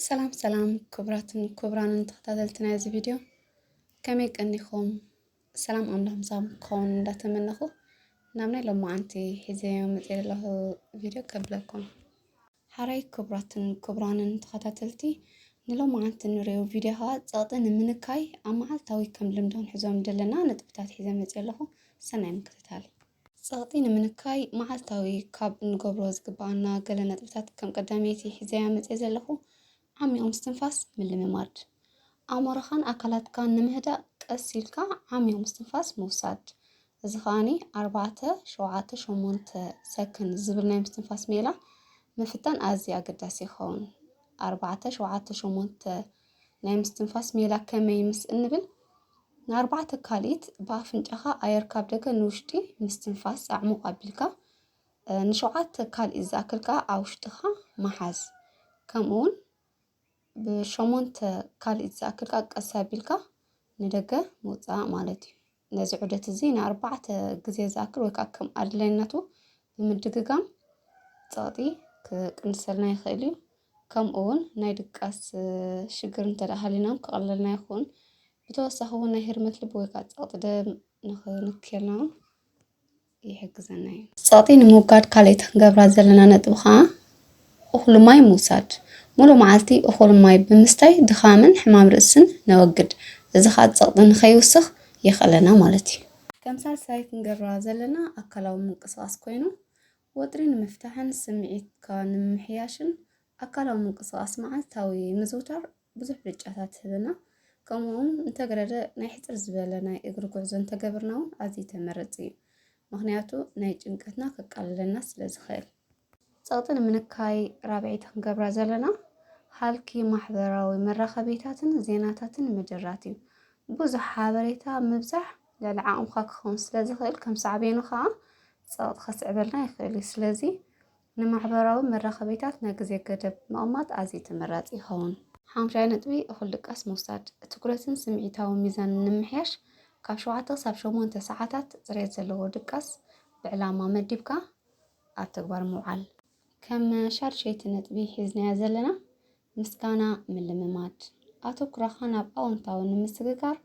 ሰላም ሰላም ክቡራትን ክቡራንን ተኸታተልቲ ናይ እዚ ቪድዮ ከመይ ቀኒኹም? ሰላም ኣምላኽ ምሳኹም ክኸውን እንዳተመነኹ ናብ ናይ ሎማዓንቲ ሒዘዮ መፅየ ዘለኹ ቪድዮ ከብለኩም። ሓራይ ክቡራትን ክቡራንን ተኸታተልቲ ንሎማዓንቲ ንሪኦ ቪድዮ ከዓ ፀቕጢ ንምንካይ ኣብ መዓልታዊ ከም ልምዶ ንሕዞም ዘለና ነጥብታት ሒዘ መፅየ ኣለኹ። ሰናይ ምክትታል። ጸቕጢ ንምንካይ መዓልታዊ ካብ እንገብሮ ዝግብኣና ገለ ነጥብታት ከም ቀዳመይቲ ሒዘያ መጽየ ዘለኹ ዓሚቕ ምስትንፋስ ምልምማድ። ኣእምሮኻን ኣካላትካን ንምህዳእ ቀስ ኢልካ ዓሚቕ ምስትንፋስ ምውሳድ። እዚ ከኣኒ ኣርባዕተ ሸውዓተ ሸሞንተ ሰክን ዝብል ናይ ምስትንፋስ ሜላ ምፍታን ኣዝዩ ኣገዳሲ ይኸውን። ኣርባዕተ ሸውዓተ ሸሞንተ ናይ ምስትንፋስ ሜላ ከመይ ምስ እንብል ንኣርባዕተ ካልኢት ብኣፍንጫኻ ኣየር ካብ ደገ ንውሽጢ ምስትንፋስ ኣዕሙቕ ኣቢልካ ንሸውዓተ ካልኢት ዝኣክል ከዓ ኣብ ውሽጥኻ መሓዝ ከምኡ እውን ብሸሞንተ ካልኢት ዝኣክል ከዓ ቀስ ኣቢልካ ንደገ ምውፃእ ማለት እዩ። ነዚ ዑደት እዚ ንኣርባዕተ ግዜ ዝኣክል ወይ ከዓ ከም ኣድላይነቱ ብምድግጋም ፀቕጢ ክቅንሰልና ይኽእል እዩ። ከምኡ እውን ናይ ድቃስ ሽግር እንተ ደኣ ሃሊና እውን ክቐለልና ይኸውን። ብተወሳኺ እውን ናይ ህርመት ልቢ ወይ ከዓ ፀቕጢ ደም ንኽንክየልና እውን ይሕግዘና እዩ። ጸቕጢ ንምውጋድ ካልእቲ ክንገብራ ዘለና ነጥቢ ከኣ እኹል ማይ ምውሳድ። ሙሉእ መዓልቲ እኹል ማይ ብምስታይ ድኻምን ሕማም ርእስን ነወግድ። እዚ ከኣ ጸቕጢ ንኸይውስኽ የኽእለና ማለት እዩ። ከም ሳልሳይ ክንገብራ ዘለና ኣካላዊ ምንቅስቓስ ኮይኑ ወጥሪ ንምፍታሕን ስምዒትካ ንምምሕያሽን ኣካላዊ ምንቅስቓስ መዓልታዊ ምዝውታር ብዙሕ ብልጫታት ትህብና። ከምኡውን እንተገረደ ናይ ሕጽር ዝበለ ናይ እግሪ ጉዕዞ እንተገብርና እውን ኣዝዩ ተመረጺ እዩ። ምክንያቱ ናይ ጭንቀትና ከቃልለና ስለ ዝኽእል። ጸቕጢ ንምንካይ ራብዒቲ ክንገብራ ዘለና ሃልኪ ማሕበራዊ መራኸቢታትን ዜናታትን ምድራት እዩ። ብዙሕ ሓበሬታ ምብዛሕ ልዕሊ ዓቕምካ ክኸውን ስለ ዝኽእል ከም ሳዕቤኑ ከኣ ጸቕጢ ከስዕበልና ይኽእል እዩ። ስለዚ ንማሕበራዊ መራኸቢታት ናይ ግዜ ገደብ ምቕማጥ ኣዝዩ ተመራጺ ይኸውን። ሓምሻይ ነጥቢ፣ እኹል ድቃስ ምውሳድ። ትኩረትን ስምዒታዊ ሚዛንን ንምምሕያሽ፣ ካብ ሸውዓተ ክሳብ ሸሞንተ ሰዓታት ጽሬት ዘለዎ ድቃስ ብዕላማ መዲብካ ኣብ ተግባር ምውዓል። ከም ሻድሸይቲ ነጥቢ ሒዝናዮ ዘለና፣ ምስጋና ምልምማድ ኣተኩሮኻ ናብ ኣወንታዊ ንምስግጋር፣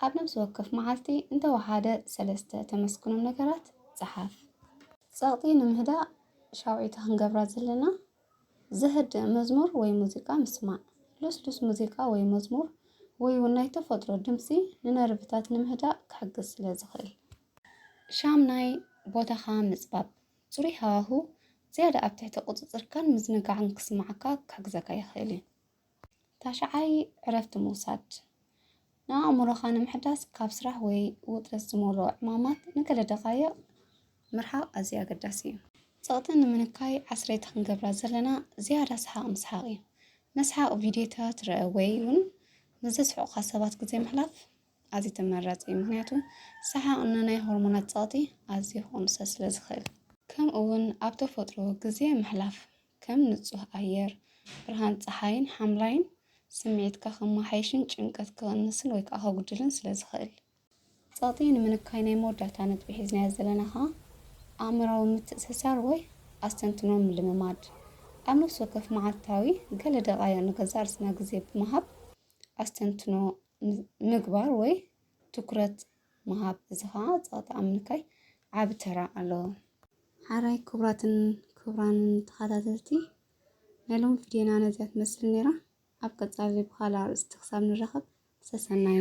ኣብ ነብሲ ወከፍ መዓልቲ እንተወሓደ ሰለስተ ተመስግኖም ነገራት ጽሓፍ። ጸቕጢ ንምህዳእ ሻውዒት ክንገብራ ዘለና ዘህድእ መዝሙር ወይ ሙዚቃ ምስማዕ። ልስሉስ ሙዚቃ ወይ መዝሙር ወይ እውን ናይ ተፈጥሮ ድምጺ ንነርቭታት ንምህዳእ ክሕግዝ ስለ ዝኽእል። ሻምናይ ቦታኻ ምጽባብ ጽሩይ ሃዋሁ ዝያዳ ኣብ ትሕቲ ቁጽጽርካን ምዝንጋዕን ክስምዓካ ክሕግዘካ ይኽእል እዩ። ታሽዓይ፣ ዕረፍቲ ምውሳድ። ንኣእምሮኻ ንምሕዳስ ካብ ስራሕ ወይ ውጥረት ዝመልኦ ዕማማት ንገለ ደቓይቕ ምርሓቕ ኣዝዩ ኣገዳሲ እዩ። ጸቕጢ ንምንካይ ዓስረይቲ ክንገብራ ዘለና ዝያዳ ሰሓቕ ምስሓቕ እዩ። መስሓቕ ቪድዮታት ርኣ ወይ'ውን ምስ ዘስሕቑኻ ሰባት ግዜ ምሕላፍ ኣዝዩ ተመራጺ እዩ፣ ምኽንያቱ ሰሓቕ ንናይ ሆርሞናት ጸቕጢ ኣዝዩ ክቕንሶ ስለ ዝኽእል። ከምኡ'ውን ኣብ ተፈጥሮ ግዜ ምሕላፍ፣ ከም ንጹህ ኣየር፣ ብርሃን ጸሓይን ሓምላይን፣ ስምዒትካ ከመሓይሽን ጭንቀት ክቕንስን ወይ ከኣ ከጉድልን ስለ ዝኽእል። ጸቕጢ ንምንካይ ናይ መወዳእታ ነጥቢ ሒዝናዮ ዘለና ከኣ ኣእምሮኣዊ ምትእስሳር ወይ ኣስተንትኖ ምልምማድ። ኣብ ነፍሲ ወከፍ መዓልታዊ ገለ ደቓይቕ ንገዛእ ርእስና ግዜ ብምሃብ ኣስተንትኖ ምግባር ወይ ትኩረት ምሃብ እዚ ከዓ ፀቕጢ ኣብ ምንካይ ዓቢ ተራ ኣለዎ። ሓራይ ክቡራትን ክቡራንን ተኸታተልቲ ናይ ሎሚ ቪድዮና ነዚኣ ትመስል ነይራ። ኣብ ቀጻሊ ብኻልእ ኣርእስቲ ክሳብ ንራኸብ ሰሰናዩ